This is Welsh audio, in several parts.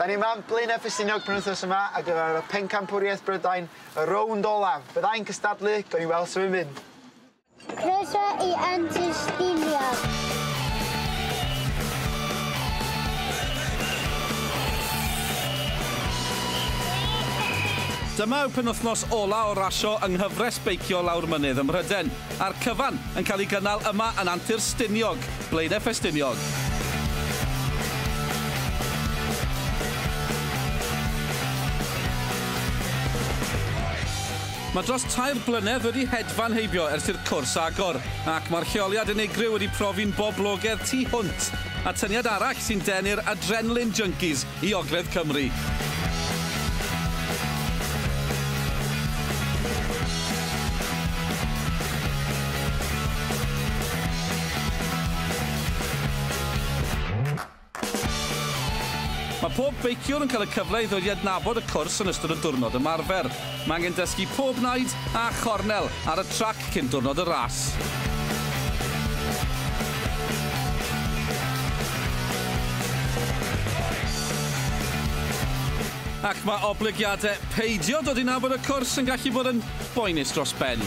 Da ni yma yn Blaenau Ffestiniog penwythnos yma ar gyfer y Pencampwriaeth Brydain, y rownd olaf. Byddai'n cystadlu, gawn ni weld sut mae'n mynd. Croeso i Antis Stiniog. Dyma yw penwythnos ola o rasio yng nghyfres beicio lawr mynydd ym Mhryden, a'r cyfan yn cael ei gynnal yma yn Antur Stiniog. Blaenau Ffestiniog. Mae dros tair blynedd wedi hedfan heibio ers i'r cwrs agor, ac mae'r lleoliad unigryw wedi profi'n boblogaidd tu hwnt, atyniad arall sy'n denu'r adrenalin junkies i ogledd Cymru. Mae pob beiciwr yn cael y cyfle i ddod i adnabod y cwrs yn ystod y diwrnod ymarfer. Mae angen dysgu pob naid a chornel ar y trac cyn diwrnod y ras. ac mae oblygiadau peidio dod i nabod y cwrs yn gallu bod yn boenus dros ben.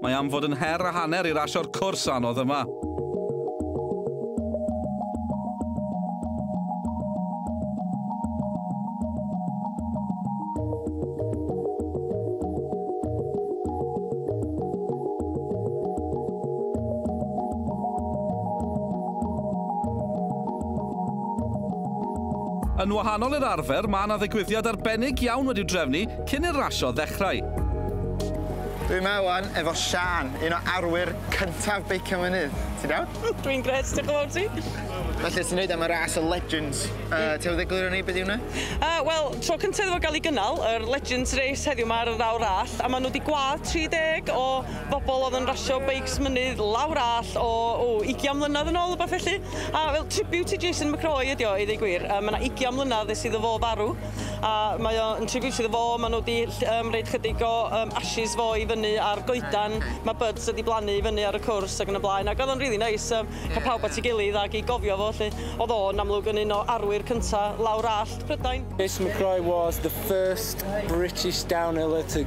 Mae am fod yn her a hanner i rasio'r cwrs anodd yma. Yn wahanol i'r arfer, mae yna ddigwyddiad arbennig iawn wedi'w drefnu cyn i'r rasio ddechrau. Dwi yma ŵan efo Siân, un o arwyr cyntaf Beicio Mynydd. Ti'n iawn? Dwi'n grêt, diolch yn fawr i ti. Felly, ti'n neud am y ras y Legends. Yy, ti am ddegluro ni be' 'di hwnna? Yy, wel, tro cynta iddo fo ga'l 'i gynnal, yr Legends Race heddiw 'ma ar yr awr all, a ma' nhw 'di gwâd 30 o bobl o'dd yn rasio beics mynydd lawr all o, o, ugian mlynadd yn ôl, wbath felly. A fel tribute i Jason McCroy ydi o, i ddeu gwir. Yy, ma' 'na ugian mlynadd ers iddo fo farw. a mae o yn tribute iddo fo ma' n'w 'di ll- yym roid chydig o yym ashes fo i fyny ar goedan ma' buds wedi blannu i fyny ar y cwrs ag yn y blaen ag o'dd o'n rili neis yym ca'l pawb at 'i gilydd ag i gofio fo 'lly. O'dd o yn amlwg yn un o arwyr cynta lawr allt Prydain. Jason McCrory was the first British downhiller to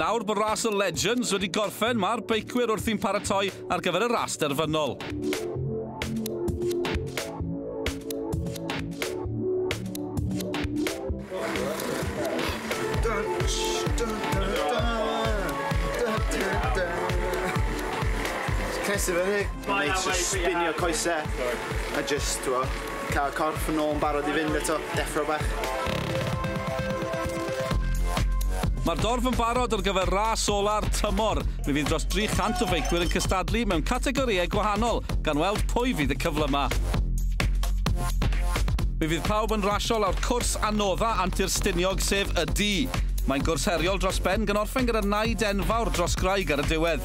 Nawr bod ras y Legends wedi gorffen, mae'r beicwyr wrthi'n paratoi ar gyfer y ras derfynol. Ces i fyny. Mae eisiau spinio coesau. A just, t'mo'... Cael y corff yn ôl yn barod i fynd eto. Deffro bach. Mae'r dorf yn barod ar gyfer ras ola'r tymor. Mi fydd dros 300 o feicwyr yn cystadlu mewn categorïau gwahanol, gan weld pwy fydd y cyfle yma. Mi fydd pawb yn rasio lawr cwrs anodda Antur Stiniog sef y du. Mae'n gwrs heriol dros ben gan orffen gyda naid enfawr dros graig ar y diwedd.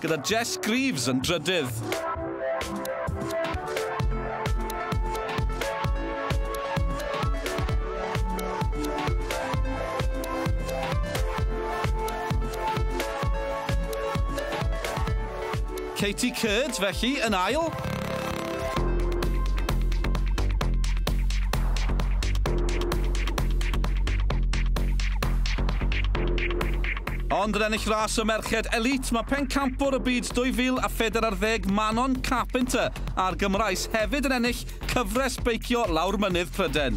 Gyda Jess Greaves yn drydydd. Katie Curd, felly, yn ail. Ond yn ennill ras y merched elite, mae pencampwr y byd 2040 Manon Carpenter a'r Gymraes hefyd yn ennill cyfres beicio lawr mynydd Pryden.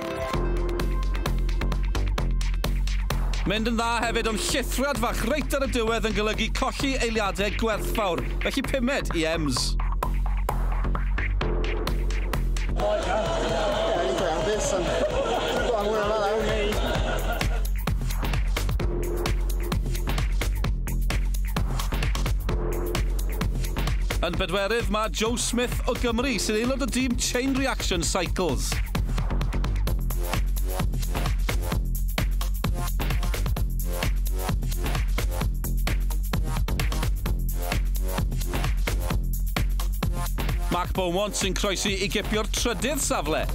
Mynd yn dda hefyd ond llithriad fach reit ar y diwedd yn golygu colli eiliadau gwerthfawr, felly pumed i Ems. Yn bedwerydd mae Joe Smith o Gymru, sy'n aelod o dîm Chain Reaction Cycles. Mark Beaumont sy'n croesi i gipio'r trydydd safle.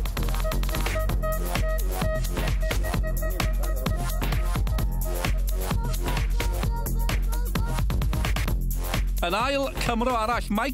Yn ail, Cymro arall, Mike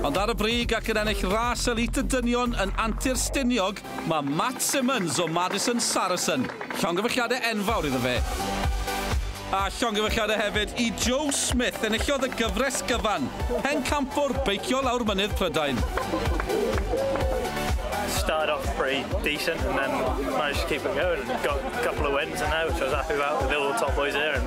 Ond ar y brig ac yn ennill ras elît y dynion yn Antur Stiniog, mae Matt Simmons o Madison Saracen. Llongyfarchiadau enfawr iddo fe. A llongyfarchiadau hefyd i Joe Smith, enillodd y gyfres gyfan, pencampwr beicio lawr mynydd Prydain. started off pretty decent and then managed to keep it going and got a couple of wins and now, which I was happy about with the little top boys here. And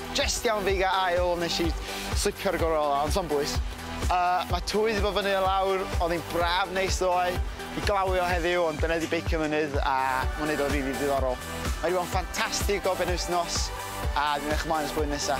Jest iawn fi ga ail nes i slipio'r gorollau ond sa'm bwys. Yy ma' twyll di bod fyny a lawr o'dd hi'n braf neis ddoe i glawio heddiw ond dyna di beicio mynydd a ma'n neud o'n rili diddorol. Mae wedi bod yn ffantastig o benwythnos a dwi'n edrych ymlaen at blwyddyn nesa.